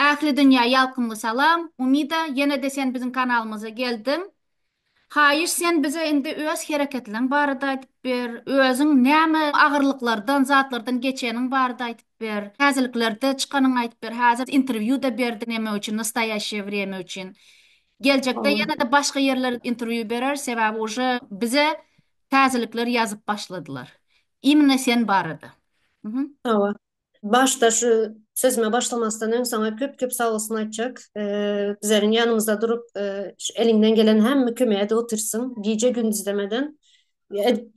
Ähli dünýä ýalkymly salam. Umida ýene-de sen biziň kanalymyza geldiň. Haýyş sen bize indi öz hereketleň barada aýdyp ber. Özüň näme agyrlyklardan, zatlardan geçeniň barada aýdyp ber. Täzeliklerde çykanyň aýdyp ber. Häzir interwýu-da berdiň neme üçin nastaýaşşýe wremýa üçin. Geljekde ýene-de başga ýerlere interwýu bereris sebäbi uje bize täzelikler ýazyp başladylar. Imine sen barada. Hawa. Başda şu sözüme başlamasdan öň saňa köp köp sag olsun aýtjak. Bizeriň ýanymyzda durup eliňden gelen hemme kömegi edip otyrsyň. Gije gündiz demeden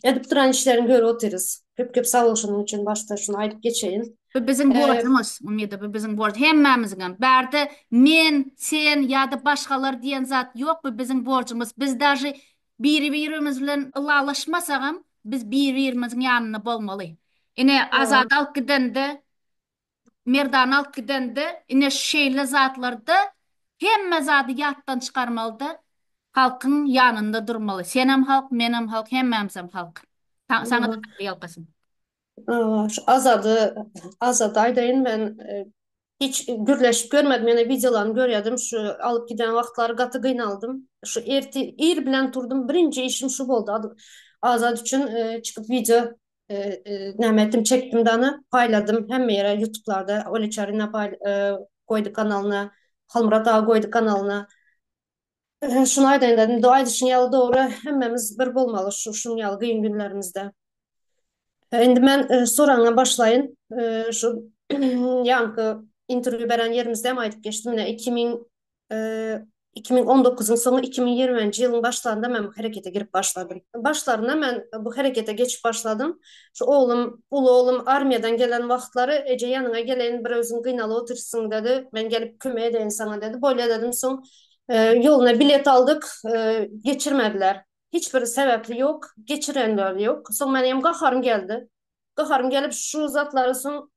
edip duran işleriňi görüp otyrys. Köp köp sag bol şonuň üçin başda şuny aýdyp geçeýin. Bu biziň borjumyz Umida bu biziň borjumyz hemmämiziňem. Bärde men, sen ýa-da başgalar diýen zat ýok bu biziň borjumyz. Biz dažy Biri-birimiz bilen ylalaşmasagam, biz biri-birimiziň ýanynda bolmaly. Ine, Azady alyp gidende, Merdany alyp gidende, ine, şeýle zatlarda hemme zady ýatdan çykarmaly-da, halkyň ýanynda durmaly. Senem halk, menem halk, hemmämizem halk. Saňa-da Tagryýalkasyn. Şu Azady, Azady aýdaýyn men hiç gürleşip görmedim ýöne wideolaryny görýädim şu alyp giden wagtlary gaty gynaldym. Şu ertir ir bilen turdum birinji işim şu boldy Azat üçin çykyp wideo näme etdim çekdim dana paýladym hemme ýere ýutublarda Oly Çaryna goýdy kanalyna Halmyrat aga goýdy kanalyna Şuny aýdaýyn dedim. Doga aýdyşyň ýaly dogry, hemmemiz bir bolmaly şu şunuň ýaly gyýyn günlerimizde. Indi men soragyňa başlaýyn. Şu ýaňky interwýu beren ýerimizde hem aýdyp geçdim. Ine iki müň iki müň on dokuzyň soňy iki müň ýigriminji ýylyň başlarynda men bu herekete girip başladym. Başlarynda men bu herekete geçip başladym. Şu oglum, uly oglum armiýadan gelen wagtlary eje ýanyňa geleýin bir özüň gynalyp otyrsyň dedi. Men gelip kömek edeýin saňa dedi. Bolýa dedim. Soň Ýoluna bilet aldyk, geçirmediler. Hiç bir sebäpli ýok, geçirenler ýok. Soň menem gaharym geldi. Gaharym gelip şu zatlary soň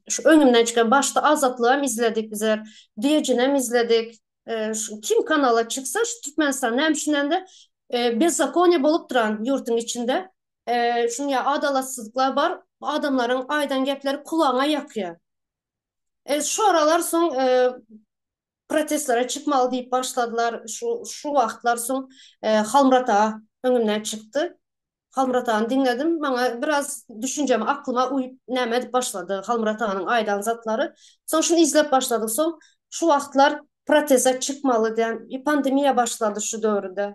şu öňümden çykan başda Azatlygam izledik bizler, Düýejinem izledik. Şu kim kanala çyksa şu Türkmenistan näme üçin indi bezzakoniýe bolup duran ýurduň içinde. Şuň ýaly adalatsyzlyklar bar. Adamlaryň aýdan gepleri kulagyňa ýakýar. Şoralar soň Protestlere çykmaly diýip başladylar. Şu şu wagtlar soň Halmyrat aga öňümden çykdy. Halmyrat agany diňledim. Maňa biraz düşünjeme, aklyma uýup näme edip başlady Halmyrat aganyň aýdan zatlary. Soň şuny izlep başladyk. Soň şu wagtlar proteste çykmaly diýen pandemiýa başlady şu döwürde.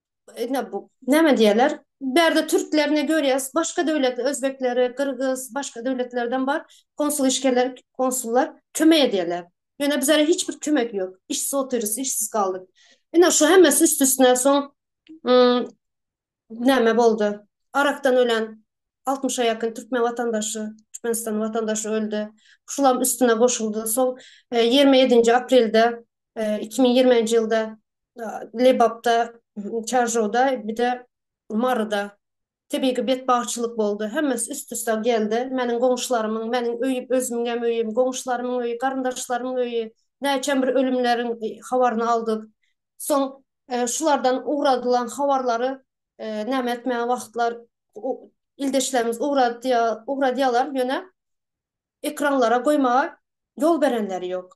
ine bu näme diýerler? Bärde türklerini görýäs, başga döwletli özbekleri, gyrgyz, başga döwletlerden bar konsul işgärler, konsullar kömek edýärler. Ýöne bizlere hiç bir kömek ýok. Işsiz otyrys, işsiz galdyk. Ine şu hemmesi üst-üstüne soň näme boldy? Arakdan ölen 60-a ýakyn türkmen watandaşy, Türkmenistan watandaşy öldi. Şulam üstüne goşuldy. Soň 27-nji aprelde iki müň ýigriminji ýylda Lebapda, Çarjowda, bir-de Maryda tebigy betbagtçylyk boldy. Hemmesi üst-üste geldi. Meniň goňşularymyň, meniň öýüm, özümiň hem öýüm, goňşularymyň öýi, garyndaşlarymyň öýi, näçem bir ölümleriň habaryny aldyk. Soň şulardan ugradylan habarlary näme etmäge wagtlar ildeşlerimiz ugradýar, ugradýarlar, ýöne ekranlara goýmaga ýol berenleri ýok.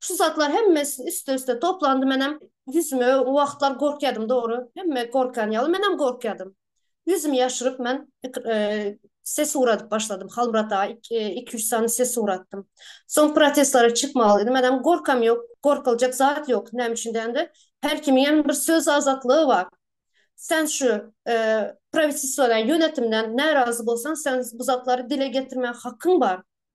Şu zatlar hemmesi üste-üste toplandy, menem ýüzüme o wagtlar gorkýadym dogry, hemme gorkan ýaly menem gorkýadym. Ýüzümi ýaşyryp men ses uradyp başladym, Halmyrat aga iki-üç sany ses uratdym. Soň protestlara çykmalydy, menem gorkam ýok, gorkuljak zat ýok, näme üçin dändä, her kimiňem bir söz azatlygy bar. Sen şu prawitistwadan, ýönetimden närazy bolsaň, sen bu zatlary dile getirmäge hakyň bar.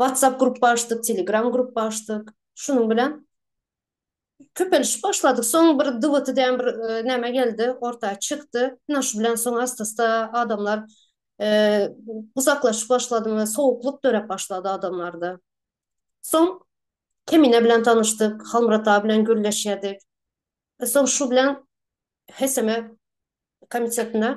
WhatsApp grupba açdyk, Telegram grupba açdyk. Şunuň bilen köpelişip başladyk. Soň bir DWT diýen bir näme geldi, orta çykdy. Ine şu bilen soň asta-asta adamlar uzaklaşyp başlady we sowuklyk döräp başlady adamlarda. Soň Kemine bilen tanyşdyk, Halmyrat aga bilen gürleşýärdik. Soň şu bilen HSM komitetine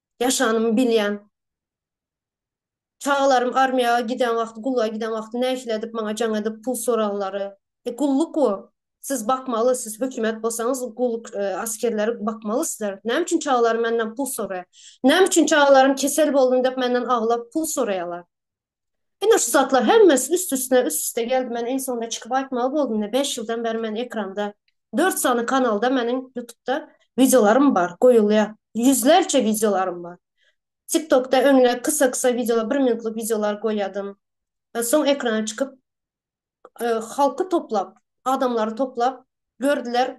ýaşanymy bilýän. Çagalarym armiýaga giden wagty, gulluga giden wagty nähili edip maňa jaň edip pul soraglary. E, gulluk bu. Siz bakmaly, siz hökümet bolsaňyz, gulluk askerleri bakmaly sizler. Näme üçin çagalarym menden pul soraýar? Näme üçin çagalarym kesel boldum diýip menden aglap pul soraýarlar? Ine şu zatlar hemmesi üst üstüne üst üste geldi men iň soňunda çykyp aýtmaly boldum ine bäş ýyldan bäri men ekranda dört sany kanalda meniň ýutupda wideolarym bar goýulýar ýüzlerçe wideolarym bar tik tokda öňler kysa kysa wideolar bir minutlyk wideolar goýadym soň ekrana çykyp halky toplap adamlary toplap gördüler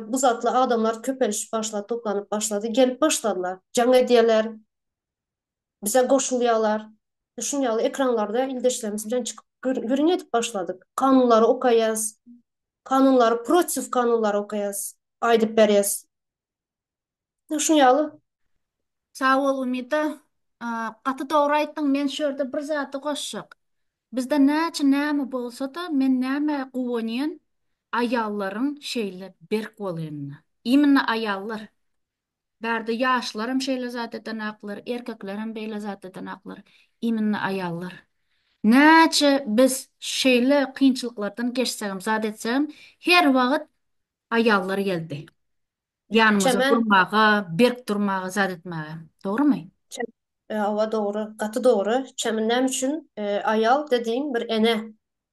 bu zatly adamlar köpelişip başlady toplanyp başlady gelip başladylar jaň edýärler. bize goşulýarlar. Şuny ýaly ekranlarda ildeşlerimiz bilen çykyp gürrüň edip başladyk. Kanunlary okaýas. Kanunlary protiv kanunlary okaýas. Aýdyp berýäs. Şuny ýaly. Sag bol Umida. Gaty dogry aýtdyň men şu ýerde bir zady goşjak. Bizde näçe näme bolsada men nämä guwanýan aýallaryň şeýle berk bolanyna. Immina aýallar. Bärde ýaşlaram şeýle zat edenaklar, erkeklerem beýle zat edenaklar, iminne aýallar. Näçe biz şeýle kynçylyklardan geçsegem, zat etsegem, her wagyt aýallar geldi. Ýanymyza durmaga, berk durmaga, zat etmäge. Dogrymy? Hawa, dogry, gaty dogry. Çem näme üçin aýal dediň bir ene.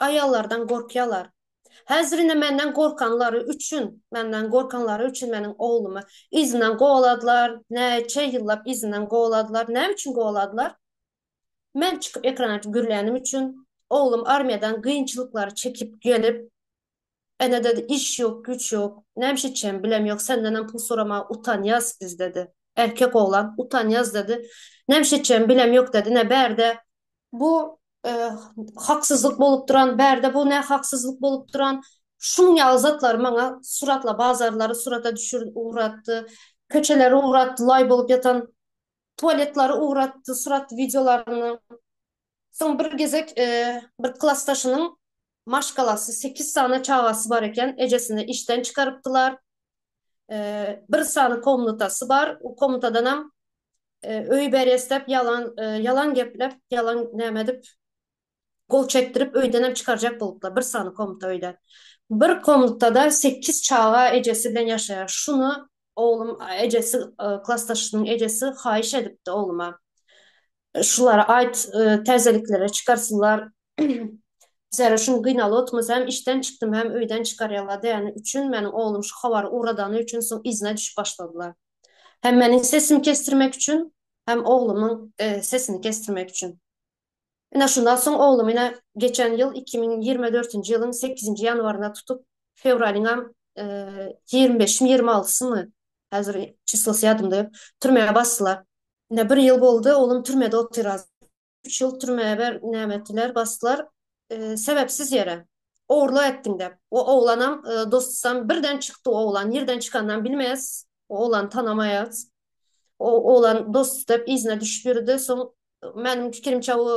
aýallardan gorkýarlar. Häzir ine menden gorkanlary üçin, menden gorkanlary üçin meniň oglumy yzyndan kowaladylar, näçe ýyllap yzyndan kowaladylar. Näme üçin kowaladylar? Men çykyp ekrana gürlänim üçin, oglum armiýadan kynçylyklary çekip gelip, Ene-de iş ýok, güýç ýok. Nämiş etjegimi bilem ýok. Sendenem pul soramaga utanýas biz, dedi. Erkek oglan, utanýas, dedi. Nämiş etjegimi bilem ýok, dedi. Nä bärde. Bu haksyzlyk bolup duran, bärde bu nä haksyzlyk bolup duran. Şunuň ýaly zatlary maňa suratla, bazarlary surata düşür, ugratdy. Köçeleri ugratdy, laý bolup ýatan. Tualetlary ugratdy, surat wideolaryny. Soň bir gezek bir klasdaşynyň maşgalasy, sekiz sany çagasy bar eken, ejesini işden çykarypdylar. Bir sany komnatasy bar, o komnatadanam öý berýäs dep ýalan, ýalan geplep, ýalan näme edip, gol çekdirip, öýdenem çykarjak bolupdylar, bir sany komnata öýde. Bir komnatada sekiz çaga ejesi bilen ýaşaýar. Şuny oglum, ejesi, klasdaşynyň ejesi haýyş edipdi ogluma. Şulara aýt täzeliklere çykarsylar. Zerre şum gynaly otmasa hem işden çykdym hem öýden çykarýarlar däni üçin meniň oglum şu habary ugradany üçin soň yzyna düşüp başladylar. Hem meniň sesimi kesdirmek üçin hem oglumyň sesini kesdirmek üçin. Ine şundan soň oglum ine geçen ýyl iki müň ýigrimi dörtünji ýylyň sekizinji ýanwarynda tutup fewralyňam ýigrimi beşimi ýigrimi altysymy häzir çyslosy ýadymda ýok türmä basdylar. Ine bir ýyl boldy oglum türmede otyra. Üç ýyl türmä ber näme etdiler basdylar sebepsiz ýere ogurlyk etdiň dep o oglanam dostusam birden çykdy oglan nirden çykanynam bilmeýas oglany tanamaýas o oglan dostus dep yzyna düşüp ýörüdi soň meniň pikirimçe bu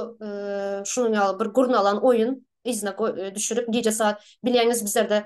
şunuň ýaly bir gurnalan oýun yzyna düşürip gije saat bilýäňiz bizlerde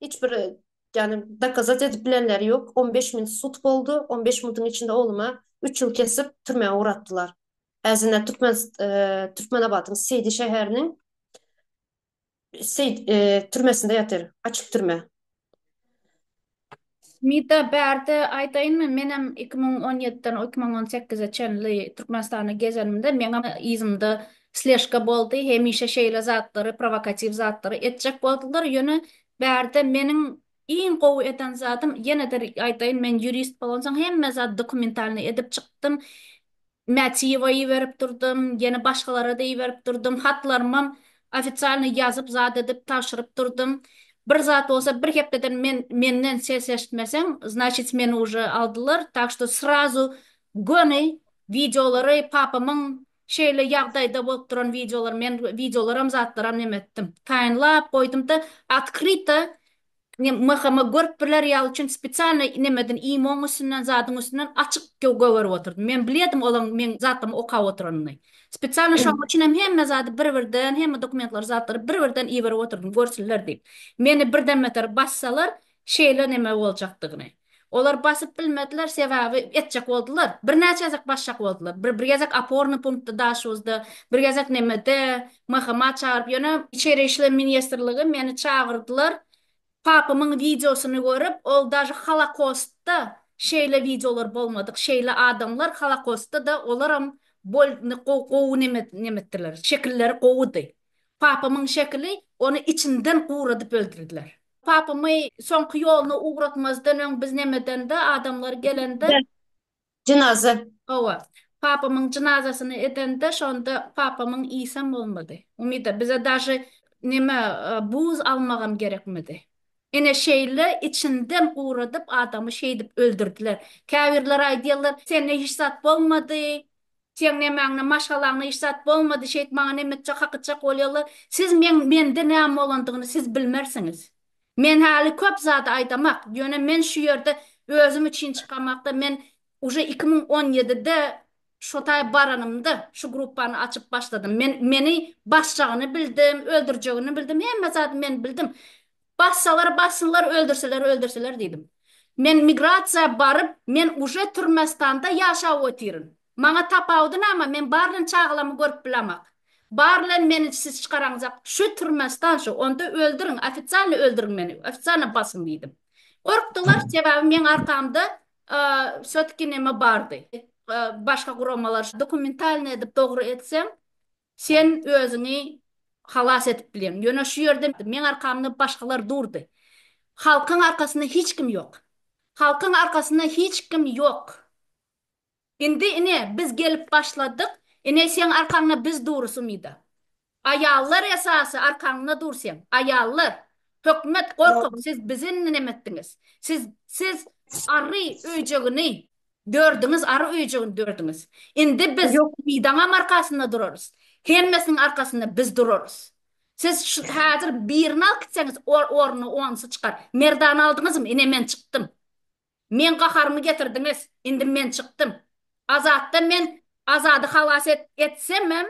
Hiç bir ýagny dokazat edip bilenleri ýok. On beş minut sud boldy. On beş minutyň içinde ogluma üç ýyl kesip türmä ugratdylar. Häzirine türkmen Türkmenabadyň Seýdi şäheriniň Seýd türmesinde ýatyr. Açyk türme. Mida bärde aýdaýynmy menem iki müň on ýediden iki müň on sekize çenli Türkmenistanda gezenimde meňem yzymda Sležka boldy, hemişe şeýle zatlary, prowokatiw zatlary etjek boldular, ýöne bärde meniň iň gowy eden zadym, ýene-de aýdaýyn, men ýurist bolansoň hemme zat dokumentalnyý edip çykdym, Mätiýewa iberip durdum, ýene başgalara-da iberip durdum, hatlarymam ofisialnyý ýazyp, zat edip, tabşyryp durdum. Bir zat bolsa, bir hepdeden men menden ses eşitmeseň, znaçit meni uje aldylar, tak şto srazu göni wideolary papamyň, Şeýle ýagdaýda bolup duran wideolar men wideolaram zatlaram neme etdim taýynlap goýdumda otkryto mhma görüp biler ýaly üçin spesialno nemeden imoň üstünden zadyň üstünden açyk gögerip oturdym men bilýärdim olaň meň zatlamy okap oturanyny spesialno şoň üçinem hemme zady bir birden hemme dokumentlary zatlary bir birden iberip oturdym görsünler diýip meni birden beter bassalar Şeýle neme boljakdygyny. Olar basyp bilmediler, sebäbi etjek boldular. Birnäçe gezek basjak boldular. Bir bir gezek opornyý punktda Daşuzda, bir gezek nemede, MHMA çagyryp ýöne. Içeri işler ministrligi meni çagyrdylar. Papamyň wideosyny görüp, ol daža Holokostda şeýle wideolar bolmadyk, şeýle adamlar Holokostda-da olaram bol gowy neme nemetdiler, şekilleri gowudy. Papamyň şekili, ony içinden guradyp öldürdiler. Papamy soňky ýoluna ugratmazdan öň biz näme edende, adamlar gelende? Jynaza. Hawa. Papamyň jynazasyny edende, şonda papamyň iýsem bolmady. Umyda, bize daže näme, buz almagam gerekmedi. Ine şeýle içinden guradyp adamy şeýdip öldürdiler. Käbirler aýdýarlar, sende hiç zat bolmady, Seň nämäňde maşgalaňda hiç zat bolmady şeýt maňa nemetjek hakytjak bolýalar siz meň mende näme bolandygyny siz bilmersiňiz men häli köp zady aýdamak ýöne men şu ýerde özüm üçin çykamakda men uje iki müň on ýedide şotaý baranymda şu gruppany açyp başladym men meni basjagyny bildim öldürjegini bildim hemme zady men bildim Bassalar bassynlar, öldürseler öldürseler diýdim. Men migrasiýa baryp, men uje Türmestanda ýaşap otyryn. Maňa tapawudy name, men bar bilen çagalamy görüp bilamak. Bar bilen meni siz çykaraňzak, şu Türmestan şu, onda öldüriň, ofitsialno öldüriň meni, ofitsialno basyň diýdim. Gorkdular, sebäbi meň arkamda wsotki neme bardy, başga guramalar, dokumentalno edip dogry etsem, Sen özüňi halas edip bileň. Ýöne şu ýerde meň arkamda başgalar durdy. Halkyň arkasynda hiç kim ýok. Halkyň arkasynda hiç kim ýok. Indi ine biz gelip başladyk. Ine seň arkaňda biz durus umyda. Aýallar esasy arkaňda dur seň. Aýallar. Hökümet gorkak siz bizi indi nemetdiňiz. Siz siz ary öýjegini Dördiňiz ary öýjügini dördiňiz. Indi biz Ýok. Umydaňam arkasynda durarys. Hemmesiniň arkasynda biz durarys. Siz şu häzir birini alyp gitseňiz ol ornuna onusy çykar. Merdany aldyňyzmy? Ine men çykdym. Meň gaharymy getirdiňiz. Indi men çykdym. Azatdan men Azady halas et etsemem,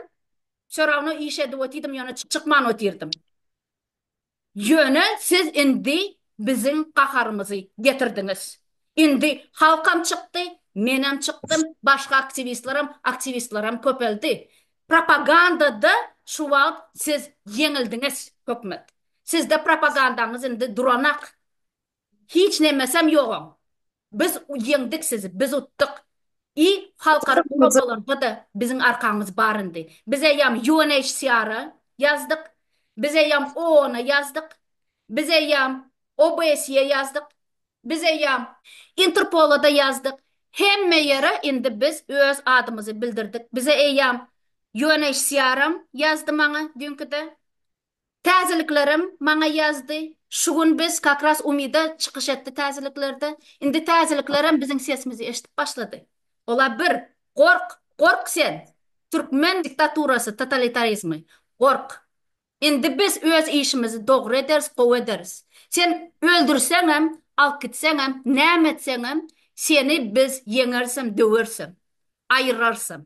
Sörawna iş edip otydym ýöne çykman otyrdym. Ýöne siz indi biziň gaharymyzy getirdiňiz. Indi halkam çykdy, menem çykdym, başga aktiwistleram, aktiwistleram köpeldi. Propagandada şu wagt siz ýeňildiňiz, hökümet. Sizde propagandaňyz indi duranak. Hiç nemesem ýogaň. Biz ýeňdik sizi, biz utdyk. I halkara guramalarda-da biziň arkamyz bar indi. Biz eýýam UNHCR-a ýazdyk, biz eýýam OON-a ýazdyk, biz eýýam OBSE-ýe ýazdyk, biz eýýam Interpola-da ýazdyk, hemme ýere indi biz öz adymyzy bildirdik. Bize eýýam UNHCR-am ýazdy maňa düýnkide. Täzeliklerim maňa ýazdy. Şu gün biz kak ras Umida çykyş etdi täzeliklerde. Indi täzeliklerem biziň sesimizi eşdip başlady. Ola bir, gork, gork sen! Türkmen diktaturasy, totalitarizmi, gork! Indi biz öz işimizi dogry ederis, gowy ederis. Sen öldürseňem, alyp gitseňem, näme etseňem, seni biz ýeňerisem, döwerisem, aýyrarsam.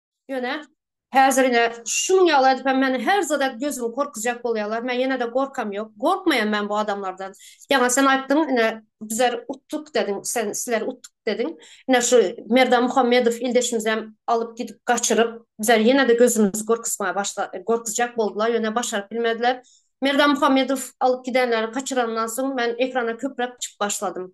Ýöne häzir ine şunuň ýaly edip hem meni her zada gözümi korkuzjak bolýarlar. Men ýene-de gorkam ýok. Gorkmaýan men bu adamlardan. Ýaňy sen aýtdyň, ine bizler utduk dediň, sen sizler utduk dediň. Ine şu Merdan Muhammedow ildeşimizi hem alyp gidip gaçyryp, bizler ýene-de gözümizi gorkuzmaga başla, gorkuzjak boldular, ýöne başaryp bilmediler. Merdan Muhammedow alyp gidenleri, gaçyranyndan soň men ekrana köpräk çykyp başladym.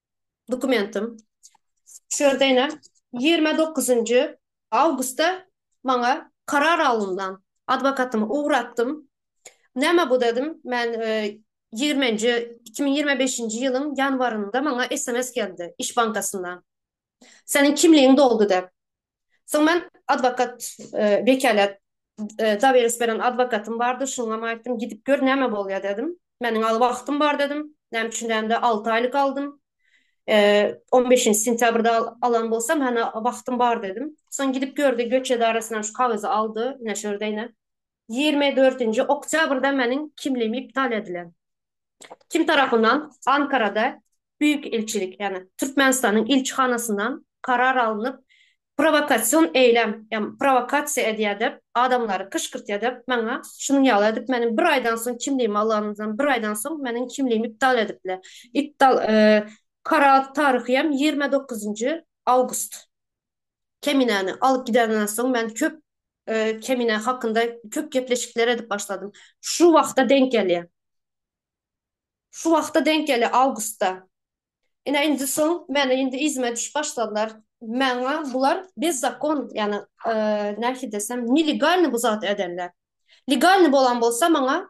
dokumentim. Şu ýerde ine ýigrimi dokuzynjy awgustda maňa karar alyndan. Adwokatymy ugratdym. Näme bu dedim. Men ýigriminji iki müň ýigrimi beşinji ýylyň ýanwarynda maňa sms geldi iş bankasyndan. Seniň kimligiň doldy dep. Soň men adwokat wekälät Zawers beren adwokatym bardy, şoňam aýtdym, gidip gör näme bolýar dedim. Meniň aly wagtym bar dedim. Näme üçin däl-de alty aýlyk aldym. On beşinji sentýabrda alan bolsam hany wagtym bar dedim. Soň gidip gördi göç edarasyndan şu kagyzy aldy, ine şu ýerde ine. Ýigrimi dördünji oktýabrda meniň kimligim iptal edilen. Kim tarapyndan? Ankarada Büýük ilçilik, ýagny Türkmenistanyň ilçihanasyndan karar alnyp, prowokasion eýlem, ýagny prowokasiýa edýär diýip, adamlary gyşgyrtýar diýip, maňa şunuň ýaly edip, meniň bir aýdan soň kimligimi alanymdan bir aýdan soň meniň kimligimi iptal edipler. Iptal karar taryhy hem ýigrimi dokuzynjy awgust. Keminäni alyp gideninden soň men köp Kemine hakynda köp gepleşikler edip başladym. Şu wagta denk gelýär. Şu wagta denk gelýär awgustda. Ine indi soň meni indi yzyma düşüp başladylar. Maňa bular bezzakon, ýagny nähili desem, nelegalny bu zat edenler. Legalny bolan bolsa maňa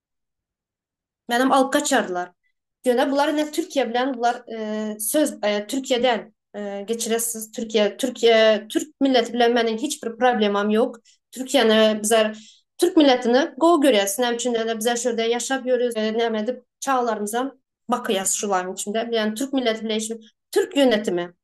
Menem alyp gaçarlar. Ýöne bular ine Türkiýe bilen bular söz Türkiýe däl. Geçirer siz Türkiýe Türkiýe Türk milleti bilen meniň hiç bir problemam ýok. Türkiýäni bizler Türk milletini gowy görýäs. Näme üçin ine bizler şu ýerde ýaşap ýörüs. Näme edip çagalarymyzam bakýas şularyň içinde. Ýani Türk milleti bilen hiç Türk ýönetimi.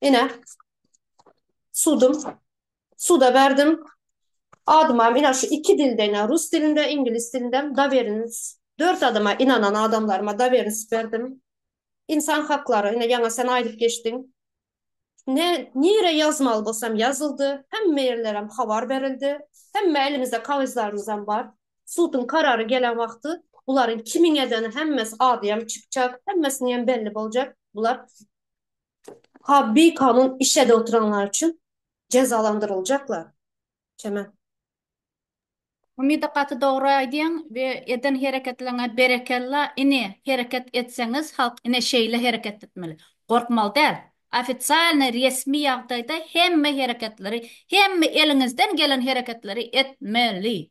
Ine, sudum. Suda berdim. Adymam ine şu iki dilde ine rus dilinde, iňlis dilindem daweriniz. Dört adama inanan adamlaryma daweriniz berdim. Ynsan haklary ine ýaňa sen aýdyp geçdiň. Ne nire ýazmaly bolsam ýazyldy. Hemme ýerlerem habar berildi. Hemme elimizde kagyzlarymyzam bar. Suduň karary gelen wagty bularyň kimiň edeni hemmesi adyam çykjak, hemmesiniňem belli boljak. Bular. Ha bikanun iş edip oturanlar üçin jezalandyryljaklar. Çemen. Umida gaty dogry aýdýaň we eden hereketleriňe berekella ini hereket etseňiz halk ine şeýle hereket etmeli gorkmaly däl ofitsialnyý resmi ýagdaýda hemme hereketleri hemme eliňizden gelen hereketleri etmeli.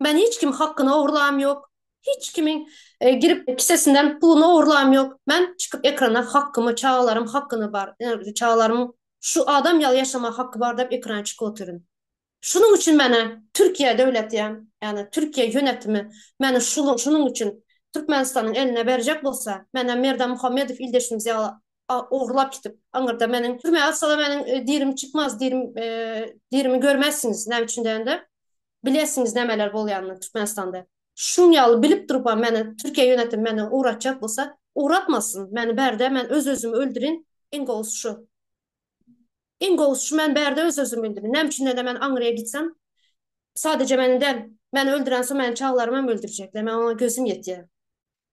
Men hiç kim hakkyny ogurlam yok. Hiç kimin girip kisesinden puluny ogurlam yok. Men çykyp ekrana hakkymy çagalarym hakkyny bar. Çagalarym şu adam yaly yaşama hakkı bar dep ekrana çykyp otyryn. Şunuň üçin meni Türkiye döwleti ýan yani Türkiye yönetimi meni şunuň şunuň üçin Türkmenistanyň eline berjek bolsa meni Merdan Muhammedow ildeşimiz yaly ogurlap gitip aňyrda meniň türmä atsalar meniň dirim çykmaz dirim dirimi görmezsiňiz näme üçin degende Bilesiňiz nämeler bolýanyny Türkmenistanda. Şuň ýaly bilip durupam meni Türkiýe ýönetim meni ugratjak bolsa, ugratmasyn, meni bärde men öz-özümi öldürin, iň gowusy şu. Iň gowusy şu men bärde öz-özümi öldürin. Näme üçin-de men Aňryýa gitsem, sadeje meni däl, meni öldürensoň meniň çaglarymam öldürjekler, men oňa gözüm ýetýär.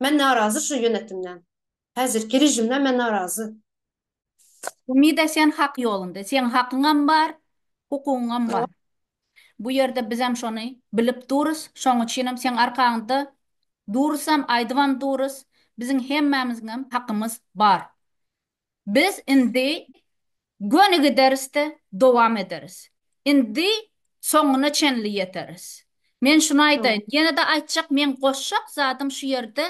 Men narazy şu ýönetimden. Häzirki režimden men narazy. Umyda sen hak ýolunda. Seň hakyňam bar, hukugyňam bar. Bu ýerde bizem şony bilip durys. Şoň üçinem seň arkaňda durusam, aýdybam durys. Biziň hemmämiziňem hakymyz bar. Biz indi göni giderisde dowam ederis. Indi soňuna çenli ýeteris. Men şuny aýdaýyn, ýene-de aýtjak meň goşjak zadym şu ýerde,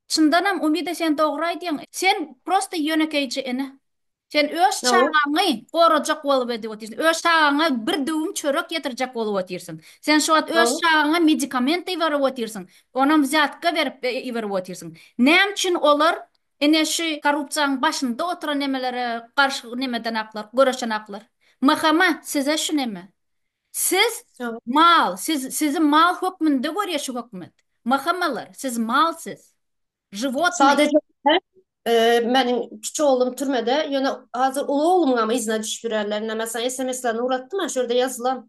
çyndanam Umida sen dogry aýdýaň, sen prosta ýönekeýje ene. Sen öz çagaňy gorajak bolup edip otyrsyň. Öz çagaňa bir düwüm çörek ýetirjek bolup otyrsyň. Sen şu wagt öz çagaňa medikament iberip otyrsyň. Onam wzýatka berip iberip otyrsyň. Näme üçin olar Ine şu korrupsiýaň başynda oturan nemelere garşy nemeden aklar, göreşen aklar. Mhma size şu neme. Siz mal, siz sizi mal hökmünde görýä şu hökümet. Mhmalar siz mal siz. Žiwotnyý. Sadece meniň kiçi oglum türmede, ýöne hazir uly oglumyňam yzyna düşüp ýörärler. Ine mesalan sms-lerini ugratdym-a şu ýerde ýazylan.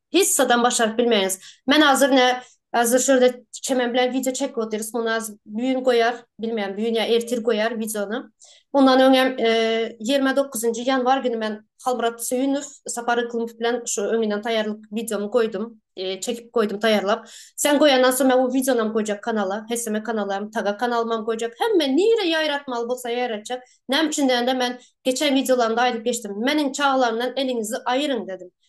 Hiç zadam başaryp bilmeýäňiz. Men hazir ne hazir şurada çemen bilen wideo çekip otyrys. Muny az büýün goýar, bilmeýän büýün ýa ertir goýar wideony. Mundan öň hem ýigrimi dokuzynjy ýanwar güni men Halmyrat Söýünow, Sapar Yklymow bilen şu öňünden taýýarlyk wideomy goýdum. Çekip goýdum taýýarlap. Sen goýandan soň men o wideonam goýjak kanala. Heseme kanala hem, Taga kanalyma hem goýjak. Hemme nirä ýaýratmaly bolsa ýaýratjak. Näme üçin diýende men geçen wideolarymda aýdyp geçdim. Meniň çagalarymdan eliňizi aýyryň dedim.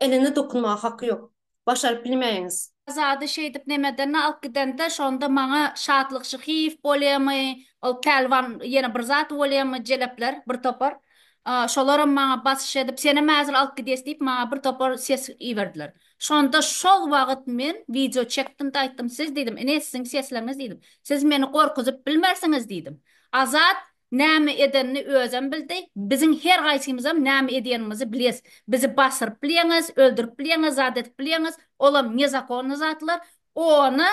Enene dokunmaga haky ýok. Başaryp bilmeýiňiz. Azady şeýdip nemedenini alyp gidende şonda maňa Şatlyk Şyhyýew bolýamy, ol Pälwan ýene bir zat bolýamy, jelepler bir topar. Şolaram maňa basyş edip, senem häzir alyp gidýäs diýip maňa bir topar ses iberdiler. Şonda şol wagyt men wideo çekdim-de aýtdym, siz diýdim, ine siziň sesleriňiz diýdim. Siz meni gorkuzyp bilmersiňiz diýdim. Azat Näme edenini özem bildi. Biziň her gaýsymyzam näme edýänimizi bilýäs. Bizi basyryp bilýäňiz, öldürip bilýäňiz, zat edip bilýäňiz. Olam nezakonny zatlar. Ony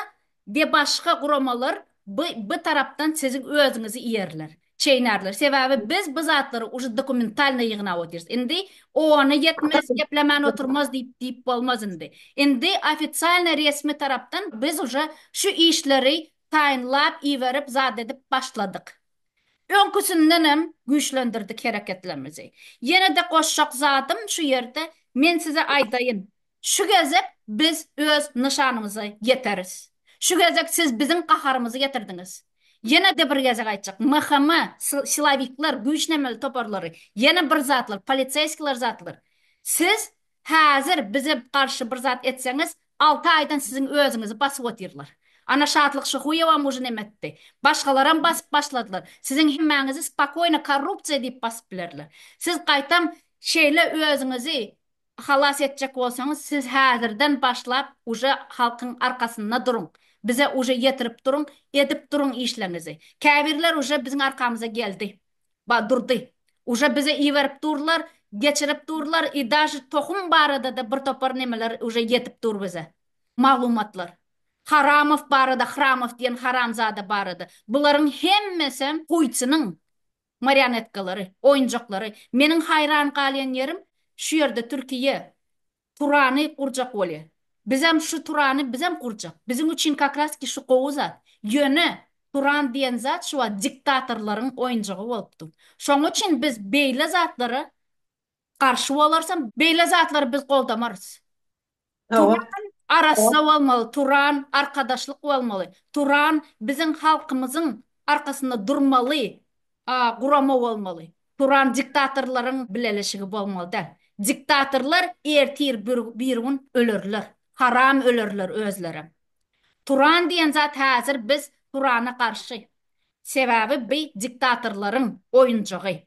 debaşka guramalar by by tarapdan siziň özüňizi iýerler. Çeýnärler. Sebäbi biz bu zatlary uje dokumentalnyý ýygnap otyrys. Indi ony ýetmez, geplemän oturmaz diýip diýip bolmaz indi. Indi ofitsialnyý resmi tarapdan biz uje şu işleri taýynlap iberip zat edip başladyk. Öňküsindenem güýçlendirdik hereketlerimizi. Ýene-de goşjak zadym şu ýerde men size aýdaýyn, şu gezek biz öz nyşanymyza ýeteris. Şu gezek siz biziň gaharymyzy getirdiňiz. Ýene-de bir gezek aýtjak, MHM, silowikler, güýçlenmeli toparlary, ýene bir zatlar, poliseýskiler zatlar, siz Häzir bize garşy bir zat etseňiz, alty aýdan siziň özüňizi basyp otyrlar. Ana Şatlyk Şyhuýewam mujnym etdi. Başgalaram basyp başladylar. Siziň hemmäňizi spokoýno korrupsiýa diýip basyp bilerler. Siz gaýtam şeýle özüňizi halas etjek bolsaňyz, siz häzirden başlap uje halkyň arkasynda duruň. Bize uje ýetirip duruň, edip duruň işleňizi. Käbirler uje biziň arkamyza geldi. Ba durdy. Uje bizi iberip durlar, geçirip durlar i daže tohum baradada bir topar nemeler uje ýetip dur bize. Maglumatlar. Haramow barada Hramow diýen haramzada barada. Bularyň hemmesem guýçynyň marionetkalary, oýunjaklary. Meniň haýran galýan ýerim şu ýerde Türkiýe Turany gurjak bolýa. Bizem şu Turany bizem gurjak. Biziň üçin kakraski şu gowy zat. Ýöne Turan diýen zat şu wagt diktatorlaryň oýunjagy bolup dur. Şoň üçin biz beýle zatlara garşy bolarysam beýle zatlary biz goldamarys. Turan arassa bolmaly, Turan arkadaşlyk bolmaly, Turan biziň halkymyzyň arkasynda durmaly A gurama bolmaly. Turan diktatorlaryň bileleşigi bolmaly däl. Diktatorlar ertir birgün ölerler. Haram ölerler özlerem. Turan diýen zat häzir biz Turana garşy. Sebäbi bi diktatorlaryň oýunjagy.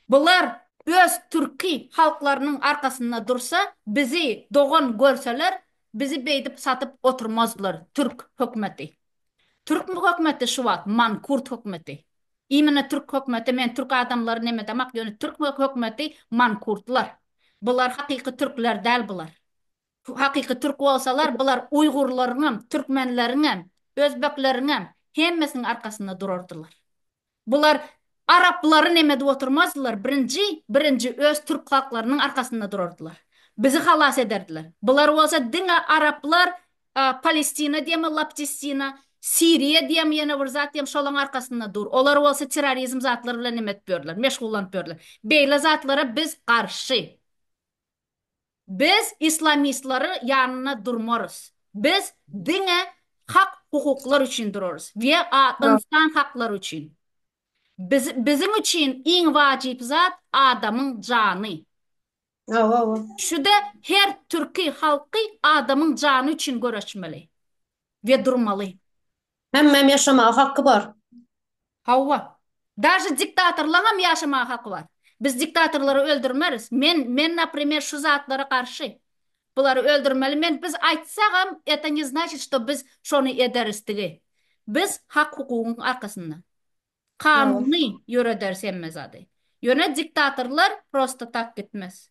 Bular öz türki halklarynyň arkasynda dursa bizi dogan görseler bizi beýdip satyp oturmazlar türk hökmeti. Türk hökmeti şu wagt mankurt hökmeti. Immine türk hökmeti men türk adamlary nemedemak ýöne türk hökmeti mankurtlar. Bular hakyky türkler däl bular. Hakyky türk bolsalar bular uýgurlaryňam, türkmenleriňem, özbekleriňem hemmesiniň arkasynda durardylar. Bular araplary nem edip oturmazdylar, birinji, birinji öz türk halklarynyň arkasynda durardylar. Bizi halas ederdiler. Bular bolsa diňe araplar, Palestina diýemmi, Laptistina, Siriýa diýemmi ýene bir zat diýem şolaň arkasynda dur. Olar bolsa terrorizm zatlar bilen nem edip ýörler, meşgullanyp ýörler. Beýle zatlara biz garşy. Biz islamistlary ýanynda durmarys. Biz diňe hak hukuklar üçin durarys we a ynsan haklary üçin. Biz biziň üçin iň wajyp zat adamyň jany. Şuda her türki halky adamyň jany üçin göreşmeli we durmaly. Hemmem ýaşamaga haky bar. Hawa. Daže diktatorlaňam ýaşamaga haky bar. Biz diktatorlary öldürmeris. Men, men naprimer şu zatlara garşy. Bulary öldürmeli men biz aýtsagam eto ne znaçit şto biz şony ederis digi. Biz hak hukugyň arkasynda. Kanuny ýörederis hemme zady. Ýöne diktatorlar prosto tak gitmez.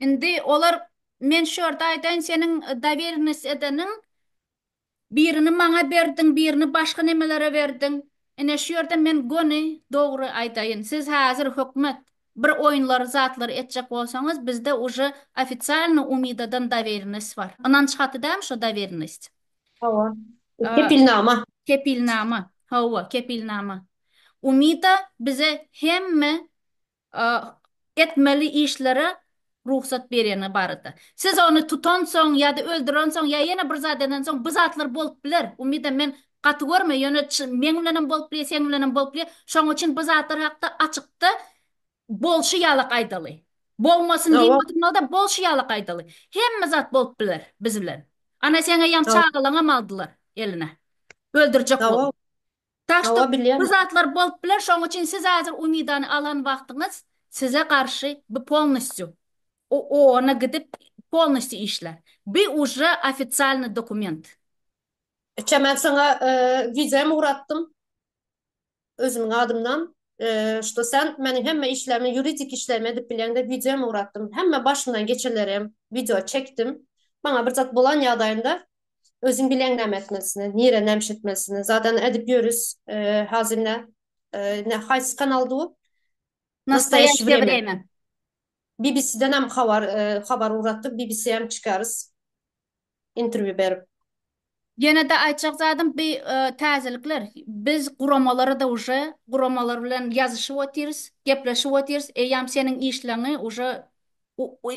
Indi olar men şu ýerde aýdaýyn seniň dowelnost edeniň birini maňa berdiň birini başga nemelere berdiň ine şu ýerde men göni dogry aýdaýyn siz häzir hökmet bir oýunlary zatlary etjek bolsaňyz bizde uje ofisialno umidadan dowelnost bar ynanç haty dälmi şo dowelnost Hawa kepilnama kepilnama hawa kepilnama umida bize hemme etmeli işlere rugsat berýäni barada. Siz ony tutansoň ýa-da öldürensoň ýa ýene bir zat edensoň bu zatlar bolup biler. Umida men gaty görme, ýöne meň bilenem bolup bilýär, seň bilenem bolup bilýär. Şoň üçin bu zatlar hakda açykda bolşy ýalak aýdaly. Bolmasyn diýmedimada bolşy ýalak aýdaly. Hemme zat bolup biler biz bilen. Ana seň eýýäm çagalaňam aldylar eline. Öldürjek bolup. Tak što, Hawa, bilýän. bu zatlar bolup biler, şonuň üçin siz häzir Umidany alan wagtyňyz size garşy bi polnostýu ООNa gidip polnostýu işlär. Bi ujre ofitsialny dokument. Kä men saňa wideom ugratdym özümiň adymdan, što sen meniň hemme işlerimi, ýuridik işlerimi edip bilýäň diýip wideom ugratdym. Hemme başymdan geçenlerem wideo çekdim. Maňa bir zat bolan ýagdaýynda Özüň bileň näme etmelisini, nire näme iş etmelisini. Zadany edip ýörüs, hazirne ne haýsy kanal du? Nastaýaşy wreme. BBC-den hem habar habar ugratdyk, BBC hem çykarys. Interwýu berip. Ýene-de aýtjak zadym bi täzelikler. Biz guramalara-da uje guramalar bilen ýazyşyp otyrys, gepleşip otyrys. Eýýäm seniň işleňi uje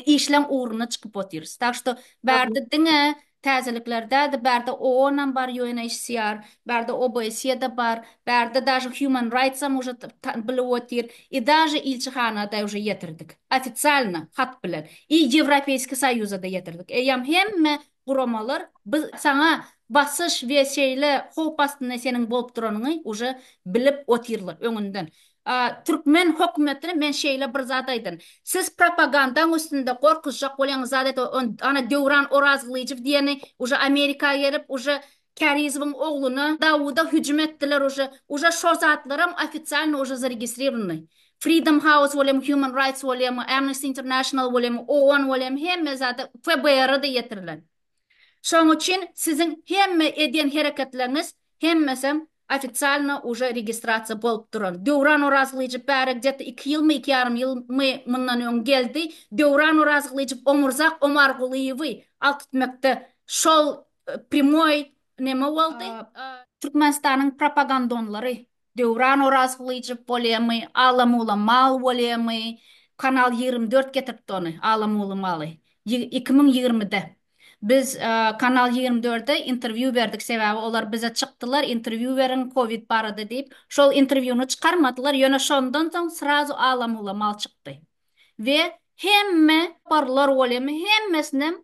işleň ugruna çykyp otyrys. Tak što bärde diňe täzelikler däldi, bärde OON-am bar, UNHCR, bärde OBSE-de bar, bärde daže Human Rights-am uje bilip otyr, i daže ilçihana-da uje ýetirdik, ofisialno hat bilen, i Ýewropeýskiý Soýuza-da ýetirdik. Eýýäm hemme guramalar biz saňa basyş we şeýle howp astynda seniň bolup duranyňy uje bilip otyrlar öňünden türkmen hökümetine men şeýle bir zat aýdyn siz propagandaň üstünde gorkuzjak bolýaňyz zat et ony ana döwran orazgylyjow diýeni uje amerika gerip uje Kärizowyň ogluna Dawuda hüjüm etdiler uje uje şo zatlaram ofisialno uje zaregistrirowny Freedom House bolem Human Rights bolem Amnesty International bolem OON bolem hemme zada FBR-a da ýetirilen şoň üçin siziň hemme edýän hereketleriňiz hemmesem ofisialno uje registrasiýa bolup duran Döwran Orazgylyjow bäri gde-ta iki ýylmy iki ýarym ýylmy mundan öň geldi Döwran Orazgylyjow Omurzak Omargulyýewi alkytmekde şol Primoý neme boldy? Türkmenistanyň propagandonlary Döwran Orazgylyjow bolýamy, Alamuly mal bolýamy, Kanal ýigrimi dört getiripdi ony, Alamuly maly. Iki müň ýigrimide. Biz Kanal ýigrimi dörde interwýu berdik, sebäbi olar bize çykdylar, interwýu beriň covid barada diýip. Şol interwýuny çykarmadylar, ýöne şondan soň srazu Alamuly mal çykdy we hemme toparlar bolýamy, hemmesinem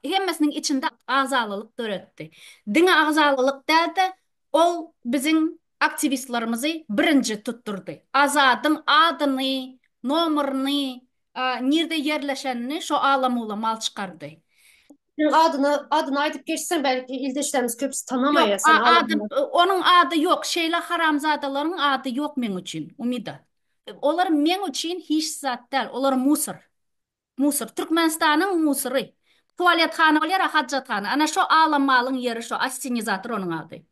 hemmesiniň içinde agzalylyk döretdi. Diňe agzalylyk däl-de, ol biziň aktiwistlerimizi birinji tutdurdy. Azadyň adyny, nomerini, nirde ýerleşenini şo ala-mula mal çykardy. Sen adyny, adyny aýdyp geçseň, belki ildeşlerimiz köpüsi tanamaýar seni, ala-mula. Ýok, ady, onuň ady ýok. Şeýle haramzadalaryň ady ýok meň üçin, Umida. Olar meň üçin hiç zat däl, olar musor. Musur. Türkmenistanyň musury. Tualetkana ol ýere hajathana. Ana şo alam malyň ýeri şo. Assenizator onuň ady.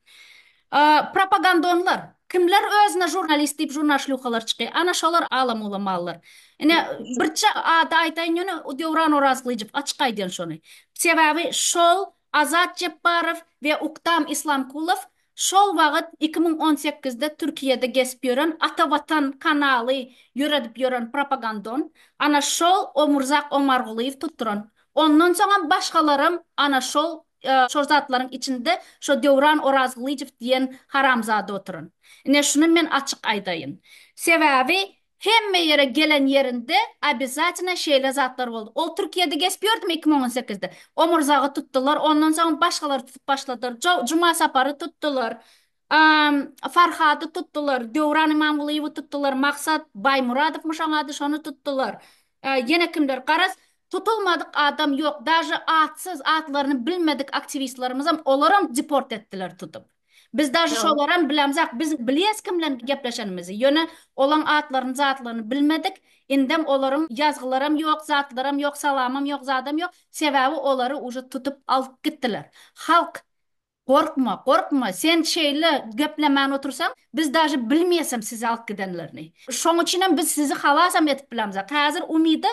Propagandonlar. Kimler özüne žurnalist diýip žurnalşlýukalar çyky. Ana şolar alam-ulam mallar. Ine birje ady aýdaýyn ýöne Döwran Orazgylyjow açyk aýdýan şony. Sebäbi şol Azat Jepbarow we Uktam Islamkulow şol wagyt iki müň on sekizde Türkiýede gezip ýören Ata Watan kanaly ýöredip ýören propagandon ana şol Omurzaak Omargulyýew tutduran. Ondan soňam başgalaram ana şol şol zatlaryň içinde şo Döwran Orazgylyjow diýen haramzada oturan. Ine şuny men açyk aýdaýyn. Sebäbi Hemme ýere gelen ýerinde obezatynna şeýle zatlar boldy. Ol Türkiýede geçip ýördümi iki müň on sekizde? Omurzagy tutdular, ondan soň başgalary tutup başladylar. Jow, Juma Sapary tutdular. Amm, Farhady tutdular. Döwran Imamgulyýewi tutdular. Maksat Baýmuradowmyş oň ady, şony tutdular. Ýene kimler? Garaz, tutulmadyk adam ýok. Daže atsyz, atlaryny bilmedik aktiwistlermizem, olaram deport etdiler tutup. Biz dažy Ýok. şolaram bilemzok. Biz bilýäs kim bilen gepleşenimizi. Ýöne olaň atlaryny zatlaryny bilmedik. Indem olaryň ýazgylaram ýok, zatlaram ýok, salamam ýok, zadam ýok. Sebäbi olary uje tutup alyp gitdiler. Halk Gorkma, gorkma, sen şeýle geplemän otursaň, biz dažy bilmeýäsem sizi alyp gidenlerini. Şoň üçinem biz sizi halasam edip bilemzok. Häzir Umyda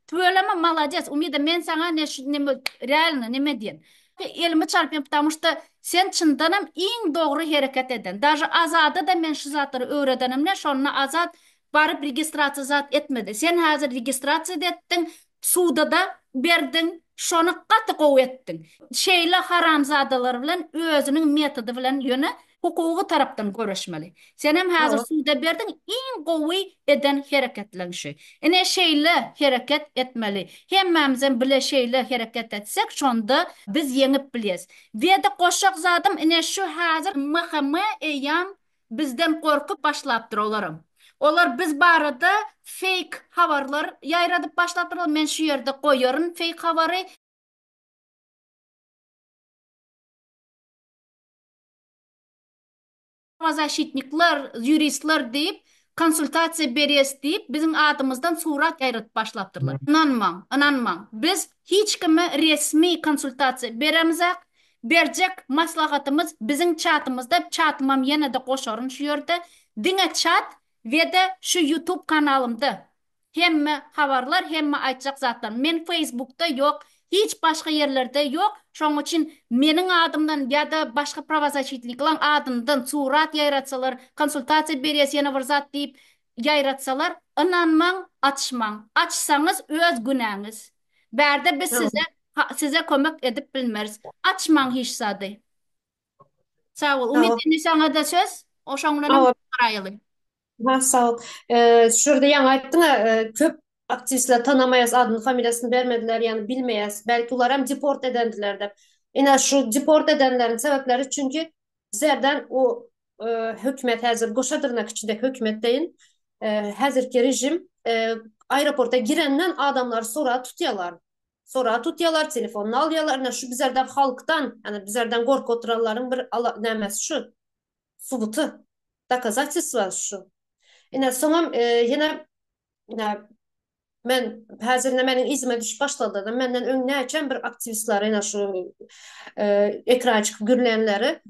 Tüweleme malades Umida men saňa ne şu neme realno neme diýen. Elimi çalpyň ptamu şda sen çyndanam iň dogry hereket eden daže Azada da men şu zatlary öwredenimde şonda Azat baryp registrasiýa zat etmedi sen häzir registrasiýa da etdiň suda da berdiň şony gaty gowy etdiň şeýle haramzadalar bilen özüniň metody bilen ýöne Hukugy tarapdan göreşmeli. Senem hazir suda berdiň iň gowy eden hereketleň şu. Ine şeýle hereket etmeli. Hemmämizem bile şeýle hereket etsek şonda biz ýeňip bilýäs. Weda goşjak zadym ine şu hazir MHM eýýam bizden gorkup başlapdyr olaram. Olar biz barada feýk habarlar ýaýradyp başlapdyrlar men şu ýerde goýaryn feýk habary. Prawazaşitnikler, ýuristler diýip, konsultasiýa berýäs diýip, biziň adymyzdan surat ýaýradyp başlapdyrlar. Ynanmaň, ynanmaň. Biz hiç kime resmi konsultasiýa beremizak. Berjek maslahatymyz biziň çatymyzda, çatymam ýene-de goşaryn şu ýerde, diňe çat we-de şu ýutub kanalymda. Hemme habarlar hemme aýtjak zatlar men feýsbukda ýok hiç başga ýerlerde ýok şoň üçin meniň adymdan ýada başga prawazaçitliklaň adyndan surat ýaýratsalar konsultasiýa berýäs ýene bir zat diýip ýaýratsalar ynanmaň açmaň açsaňyz öz günäňiz bärde biz size size kömek edip bilmeris açmaň hiç zady sag bol umyt indi saňada söz o şoňlanam garaýaly. Ha, sag ol. Eee, şu ýerde ýaňy aýtdyň-a, eee, köp aktiwistler tanamaýas, adyny familiýasyny bermediler, ýagny bilmeýäs. Belki olar hem deport edendiler dep. Ine, şu deport edenleriň sebäpleri çünki bizerden o, eee, hökümet häzir goşa dyrnak içinde hökümet deýin, eee, häzirki režim, eee, aeroporta girenden adamlary soraga tutýarlar. Soraga tutýarlar, telefonyny alýarlar. Ine, şu bizerden halkdan, ýagny bizerden gorkup oturanlaryň bir ala nämesi şu. subuty, dokazatestwa şu. Ine, soňam ýene men häzir ine meniň yzyma düşüp başladylar. Menden öň näçem bir aktiwistleri ine şu ekrana çykyp gürlänleri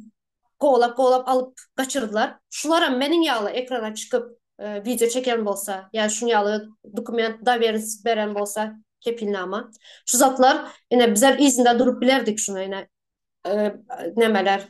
kowalap-kowalap alyp gaçyrdylar. Şularam meniň ýaly ekrana çykyp wideo çeken bolsa, ýa şuň ýaly dokument, doweriýenistik beren bolsa, kepilnama. Şu zatlar ine bizem yzynda durup bilerdik şuny ine nemeler,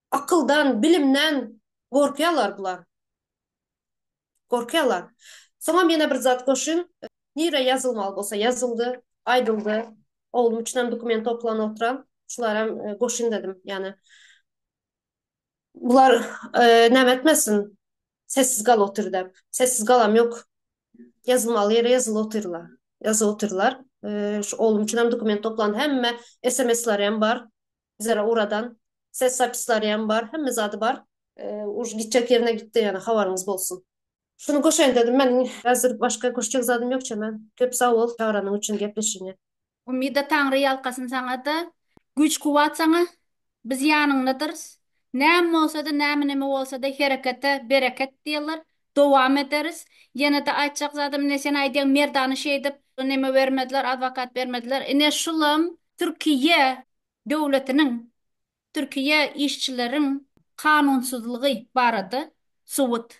Akyldan, bilimden gorkýarlar bular. Gorkýarlar. Soňam ýene bir zat goşuň. Nirä ýazylmaly bolsa ýazyldy, aýdyldy. Oglum üçinem dokument toplan oturan. Şularam goşuň dedim. Ýani bular näme etmesin, sessiz galyp otyr dep. Sessiz galam ýok. Ýazylmaly ýere ýazylyp otyrlar. Ýazyp otyrlar. Şu oglum üçinem dokument toplan. Hemme SMS-leri hem bar. Bizlere uradan ses zapislariam bar hemme zady bar. Už gitjek ýerine gitdi ýöne habaryňyz bolsun. Şuny goşaýyn dedim men häzir başga goşjak zadym ýok çemen köp sag bol çagyranyň üçin gepleşigiňe. Umida Taňry ýalkasyn saňada güýç kuwwat saňa biz ýanyňdadyrys näme bolsada näme näme bolsada herekete bereket diýerler dowam ederis ýenede aýtjak zadym ine sen aýdýaň merdana şeýdip neme bermediler adwokat bermediler ine şulam türkiýe döwletiniň Türkiýe işçileriň kanunsyzlygy barada subut.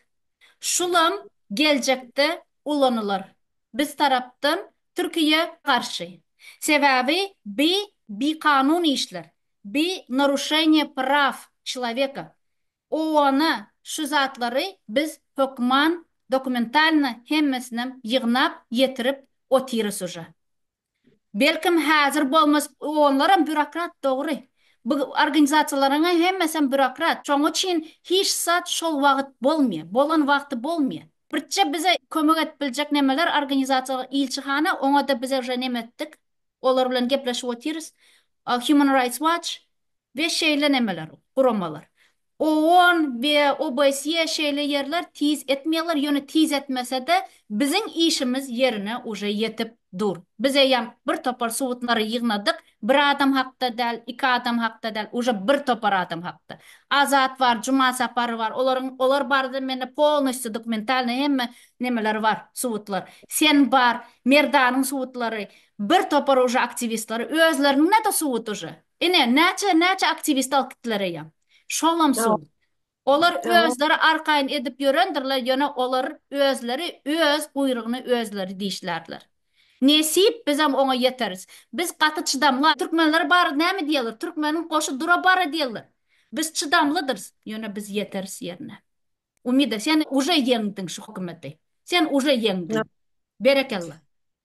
Şulam geljekde ulanylar biz tarapdan Türkiýe garşy. Sebäbi bi bikanun işler, bi naruşeniýe praw çloweka. OON-a şu zatlary biz hökman dokumentalno hemmesinem ýygnap ýetirip otyrys uža. Belkem hazir bolmaz onlaram býurokrat dogry bu organizasiýalaryň hemmesem býurokrat şoň uçin hiç zat şol wagyt bolmýa bolan wagty bolmýa birtje bize kömek edip biljek nemeler organizasiýalar ilçihana oňada biz uje neme etdik olar bilen gepleşip otyrys human rights watch we şeýle nemeler guramalar OON we OBSYE şeýle ýerler tiz etmeýärler, ýöne tiz etmesede biziň işimiz ýerine uje ýetip dur. Biz eýýäm bir topar subutlary ýygnadyk, bir adam hakda däl, iki adam hakda däl, uje bir topar adam hakda. Azat bar, Juma Sapary bar, olaryň olar barada mende polnostýu dokumentalnyý hemme nemeler bar, subutlar. Sen bar, Merdanyň subutlary, bir topar uje aktiwistleri, özleriniňne-de subut uje. Ine, näçe, näçe aktiwist alyp gitdiler eýe. Şolam suw. Olar özleri arkaýyn edip ýörendirler, ýöne olar özleri öz guýrugyny özleri dişlärler. Nesip, bizem oňa ýeteris. Biz gaty çydamly. Türkmenler bary näme diýerler? Türkmeniň goşy dura bara diýerler. Biz çydamlydyrys, ýöne biz ýeteris ýerine. Umida, sen uje ýeňdiň şu hökümeti. Sen uje ýeňdiň. Berekella.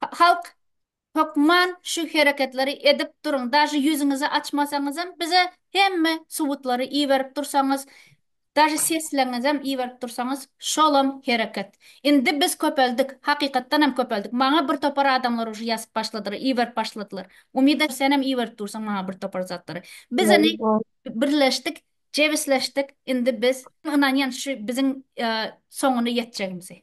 Halk hökman şu hereketleri edip duruň daže ýüzüňizi açmasaňyzam bize hemme subutlary iberip dursaňyz daže sesleňizem iberip dursaňyz şolam hereket indi biz köpeldik hakykatdanam köpeldik maňa bir topar adamlar uje ýazyp başladylar iberip başladylar umida senem iberip dursaň maňa bir topar zatlary biz indi birleşdik jebisleşdik indi biz ynanýan şu biziň soňuna ýetjegimize.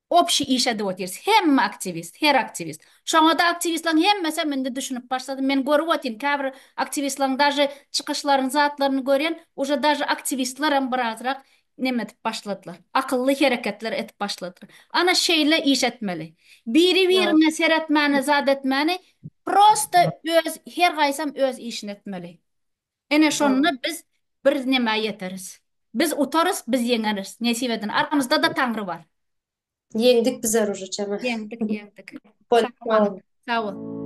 Obşi iş edip otyrys. Hemme aktiwist, her aktiwist. Şoňa-da aktiwistleriň hemmesem indi düşünip başlady. Men görüp otyryn, käbir aktiwistleriň daže çykyşlaryny, zatlaryny görýän, uje daže aktiwistlerem birazrak neme edip başladylar. Akylly hereketler edip başladylar. Ana şeýle iş etmeli. Biri-biriň e seretmäni, zat etmäni, prosta öz, her gaýsam öz işini etmeli. Ene Dogry. şonda biz birnema ýeteris. Biz utarys, biz ýeňeris. Nesip edin. Aramyzda-da Taňry bar. Ýeňdik biz zarur jana. Ýeňdik, ýeňdik. Bol Sagbol. bol. Sag bol.